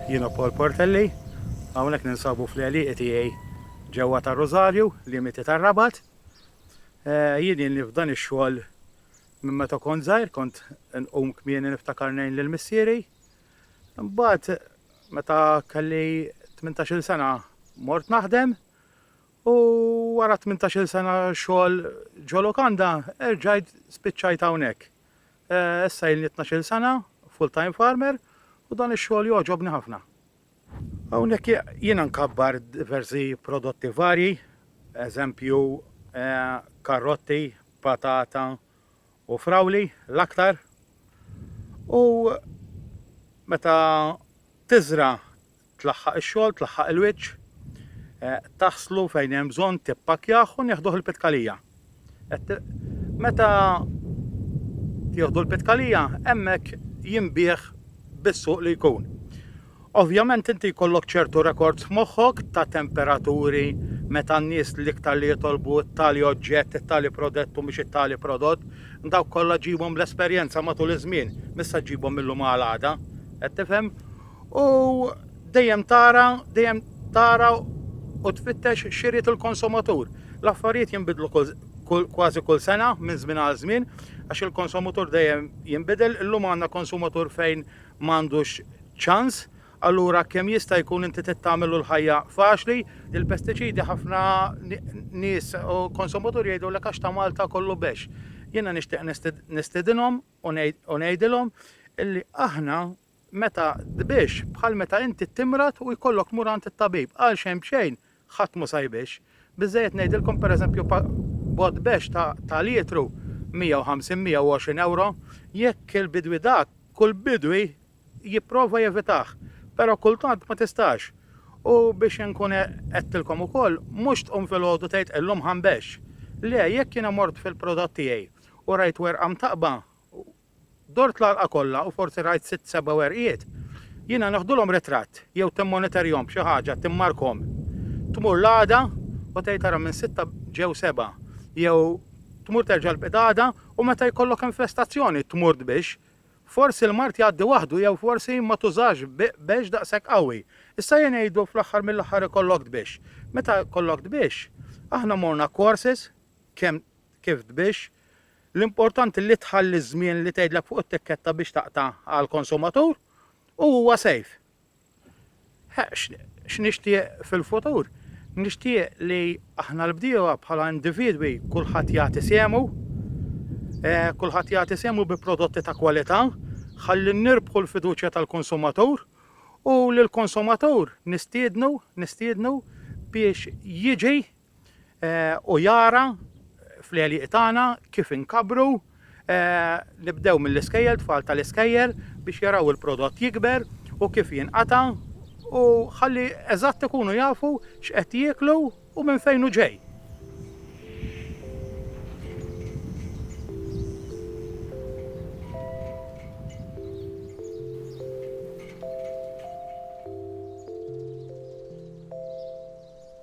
Jiena Paul Portelli, hawnhekk ninsabu fl-għaliq tiegħi ġewwa ta' Rosario, limiti ta' Rabat. Eh, jien li f'dan ix-xogħol minn meta kont żgħir kont nqum kmieni niftakar ngħin lil missieri. Imbagħad meta kelli 18-il sena mort naħdem U wara tmintax-il sena xogħol ġo lukanda, erġajt spiċċajt hawnhekk. Eh, issa ilni tnax-il sena full-time farmer u dan ix-xogħol jogħġobni ħafna. Hawnhekk jiena nkabbar diversi prodotti varji, eżempju eh, karotti, patata u frawli l-aktar. U meta tiżra Tlaħħaq ix-xogħol, tlaħħaq il-wiċċ, taħslu fejn hemm bżonn, tippakkjah u nieħduh il-pitkalija. Meta jieħdu l-pitkalija, hemmhekk jinbih bis-suq li jkun. Ovvjament inti jkollok ċertu rekords moħħok ta' temperaturi meta n-nies l-iktar li jitolbu t-tali oġġett, it-tali prodott u mhux it-tali prodott, dawk kollha ġibhom l-esperjenza matul iż-żmien, missa ġibhom mill-lum għal għada, qed tifhem? U dejjem tara, dejjem tara u tfittex x'irid il-konsumatur. L-affarijiet jinbidlu kważi kull sena minn żmien għal żmien għax il-konsumatur dejjem jinbidel. Illum għandna konsumatur fejn m'għandux ċans, allura kemm jista' jkun inti trid tagħmillu l-ħajja faċli. Il-pestiċidi ħafna nies u konsumaturi jgħidulek għax ta' Malta kollu bexx. Jiena nixtieq nistidinhom u ngħidilhom illi aħna meta tbix, bħal meta inti timrad u jkollok tmur għand it-tabib, għal xejn b'xejn ħadd mhu sa jbix. Biżżejjed ngħidilkom pereżempju pa bott bexx ta ta' lietru 150, 120 ewro, jekk il-bidwi dak, kull bidwi jipprova jevitah, però kultant ma tistax. U biex inkun għe għedtilkom ukoll, mhux tqum filgħodu tgħid illum ħa nbexx. Le, jekk jiena mort fil-prodott tiegħi u rajt werqa mtaqqba, Dort l-għalqa kollha u forsi rajt sitt seba' werqiet. Jiena neħdulhom ritratt jew timmonitorjhom b'xi ħaġa, timmarkhom. Tmur l-għada u tgħid ara minn sitta ġew seba'. Jew tmur terġa' l-pitgħada u meta jkollok infestazzjoni tmur tbix. Forsi l-mard jgħaddi waħdu jew forsi ma tużax bix daqshekk qawwi. Issa jien ngħidu fl-aħħar mill-aħħar ikollok tbix. Meta jkollok tbix, aħna morna courses kemm kif tbix, L-importanti li tħalli ż-żmien li tgħidlek fuq it-tikketta biex taqta' għall-konsumatur u huwa safe. X'nixtieq fil-futur? Nixtieq li aħna l-bdiewa bħala individwi kulħadd jagħti sehmu, kulħadd jagħti sehmu bi prodotti ta' kwalità, ħalli nirbħu l-fiduċja tal-konsumatur u lill-konsumatur nistiednu nistiednu biex jiġi u jara fl-għelieq tagħna kif inkabbru nibdew mill-iskejjel, tfal tal-iskejjel biex jaraw il-prodott jikber u kif jinqata' u ħalli eżatt ikunu jafu x'qed jieklu u minn fejn hu ġej.